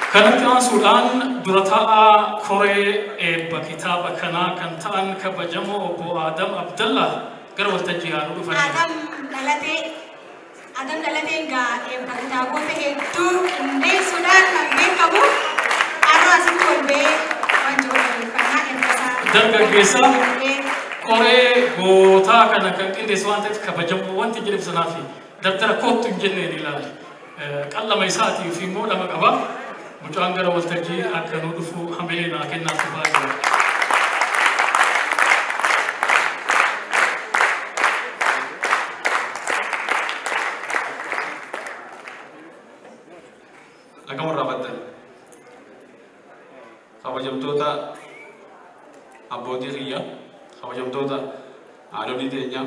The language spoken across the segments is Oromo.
Kanatti aansuudhaan dura taa'aa koree eebba kitaaba kanaa kan ta'an kabajamoo obbo Aadam Abdalla gara waltajjii haa nu dhufanii. Adam Dhalatee Adam Dhalatee egaa eebba kitaaboota hedduu qindeessuudhaan kan beekamu har'a asitti ol ba'ee waan jiru dhaggeeffannaa erga isaa Dargaggeessa koree gootaa kana kan qindeessu waan ta'eef kabajamoo wanti jedhu sanaafi Dabtara koottu hin jenneen ilaali. Kan lama isaati ofii immoo lama qaba. Mucaan gara waltajjii akka nu dhufu hamilee naa kennaa dhufaa jira. Akkam irraa battan. Kabajamtoota abbootii kiyya, kabajamtoota haadholii teenyaa,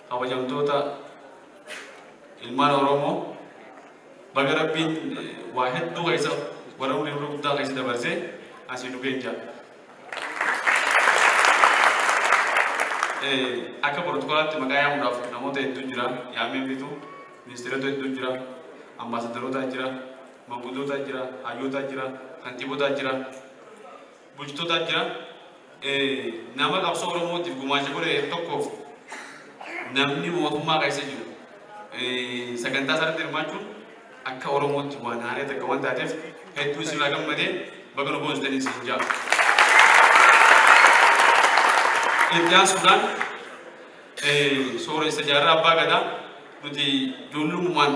kabajamtoota ilmaan Oromoo baga rabbiin waa hedduu keessa warra umrii umrii guddaa keessa dabarsee asii nu geenja. Akka protokoolaatti maqaa yaamuudhaaf namoota hedduu jira yaameen bitu ministeerota hedduu jira ambaasadaroota jira manguddoota jira hayyoota jira kantiibota jira bulchitoota addaa nama qabsoo Oromootiif gumaacha godhe tokkoof namni mootummaa keessa jiru sagantaa isaarratti hirmaachuun akka Oromootti waan haaraa takka waan taateef hedduu isinirraa gammadee baga nu boonsitanii isin ja'a. Itti aansuudhaan sooressa jaarraa abbaa gadaa nuti ijoollummaan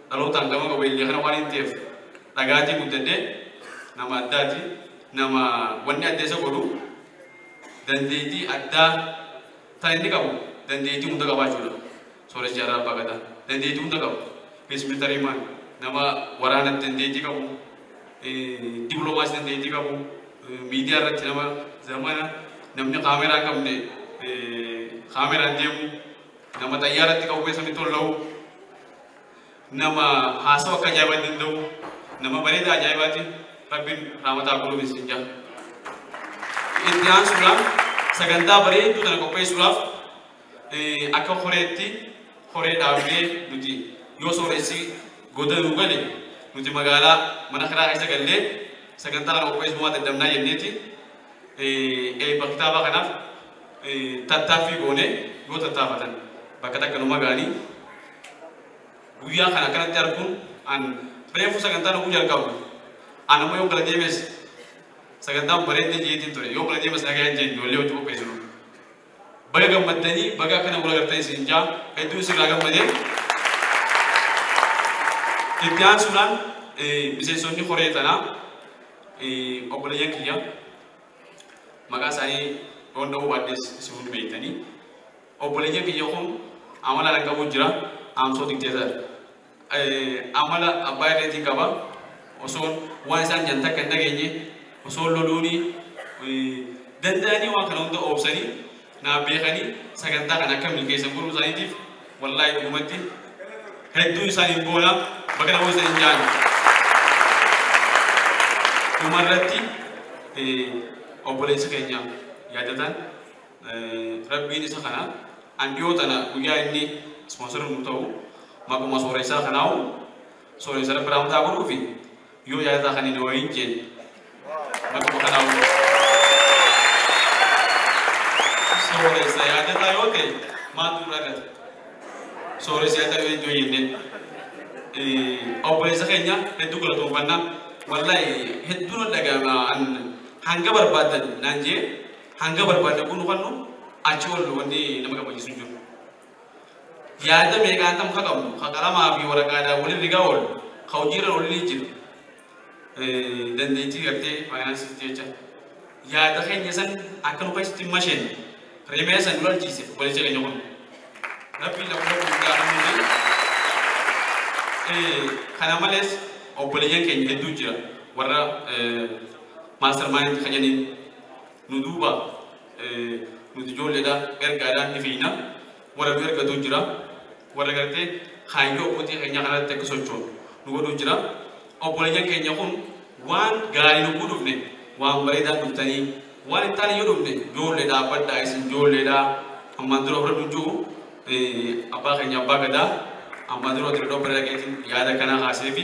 dhalootaan gama qabeenya kana waan hin ta'eef Dhagaatii guddadhee nama addaati. Nama wanni adda isa godhu dandeettii addaa tan inni qabu dandeettii hunda qabaachuudha. Soorechi Araa Abbaa Gadaa dandeettii hunda qabu. Peace military man nama waraana dandeettii qabu, diplomaasii dandeettii qabu, miidiyaa irratti nama zamana namni kaameraa hin qabne kaameraan deemu, nama xayyaaratti qabu keessa mitti ol la'u. Nama haasawu akka ajaa'ibaa danda'u nama bareeda ajaa'ibaati rabbiin raamata haa godhuuf isin jaa. Itti aansuudhaan sagantaa bareedduu tana qopheessuudhaaf eh, akka horeetti horee dhaabnee nuti yoo sooressi goda nu gale nuti magaalaa mana kiraa keessa gallee sagantaa kana qopheessuu waan dadhabnaa jenneeti eh, eebba kitaabaa kanaaf eh, tattaaffii goonee yoo tattaafatan bakka takka nu magaanii Guyyaa kana akkanatti arguun an reefu sagantaan oguu jalqabu an ammoo yoon gala deemes sagantaan bareeddee jeetiin ture yoon gala deemes nagayaan jeen ijoollee wajji qopheessinu baga gammaddanii baga akkana wal agartan isin jaa hedduu isin irraa gammadee itti aansuudhaan miseensonni koree tanaa obboleeyyan kiyya maqaa isaanii yoon dhahuu baaddees isin hundi beektanii Obboleeyyan kiyya kun amala nan qabu jira I'm so dictator amala abbaa irreetii qaba osoon waan isaan jedhan takka hin dhageenye osoon loluuni danda'anii waan kana hunda oobsanii naa beekanii sagantaa kana akka milkeessan godhuu isaaniitiif wallaahi dhugumatti hedduu isaaniin boona bakka nama isa hin jaanne. Dhumarratti obboleessi keenya yaadataan Rabbiin isa kana an dhiyoo tana guyyaa inni sponsor nu ta'u maquma sooressaa kanaawu sooreessa rabbi raamtaa godhuufi yoo jaalataa kan inni waliin jeen maquma kanaawu sooreessa yaadataa yoo ta'e maaltu irraa gata sooreessa yaadataa yoo ta'e jenneen obboleessa keenya hedduu galatoomfanna wallahi hedduu na dhaga'ama hanga barbaadan naan jee Hanga barbaadne kun hubannu achi ol wanni nama gammachiisu hin jiru. Yaada meeqaan kam kaqabnu, ka qalamaa fi waraqaadhaan waliin rigaa oolu, ka hojiirra oolu ni jira. Dandeettii gartee faayinaansiitti jecha. Yaada keenya san akka nu keessatti hin masheenye, rimeessa san nu laalchiise obboleessa keenya kun. Rabbiin lafa lafa guddaa kan nuti. Kana malees obboleeyyan keenya hedduu jira warra maaster maayinti kajaniin nu duuba nuti ijoolleedha ergaadha ni fiina warra nu ergatu jira warra gartee kaayyoo abbootii keenyaa kanarratti akka sochoonu nu godhu jira obboleeyyan keenya kun waan gaarii nu dhufne waan bareedaa dhuftanii waan itti aanee yoo dhufne ijoollee dhaabbadhaa isin ijoolleedha ammaan dura warra nu jiru abbaa keenya abbaa gadaa ammaan dura dirree dhoobbara dhageetiin yaada kanaa haasee fi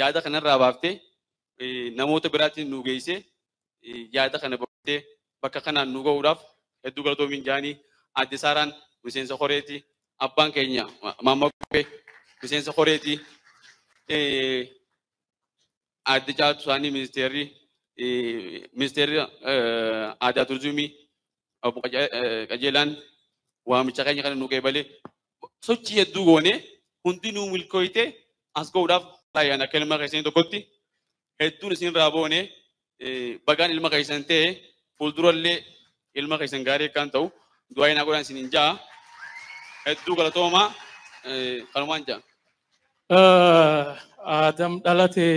yaada kana irraa baaftee namoota biraatiin nu geessee yaada kana baaftee bakka kanaan nu ga'uudhaaf hedduu galatoomiin jaanii adde saaraan miseensa koreeti abbaan keenya maamma kophee miseensa koreeti adde caaltu isaanii ministeerri ministeerri aadaa turizimii obbo Qaja- eh, Qajeelaan waamicha keenya kana nu qeebalee sochii hedduu goone hundi nu milkooyte as ga'uudhaaf ayyaana akka ilma keessanii tokkotti hedduun isin irraa boone eh, bagaan ilma keessan ta'e fuuldurallee ilma keessan gaarii akkaan ta'u du'aa hin godhan isin hin ja'a hedduu galatoomaa eh, kanumaan ja'a. Aadam dhalatee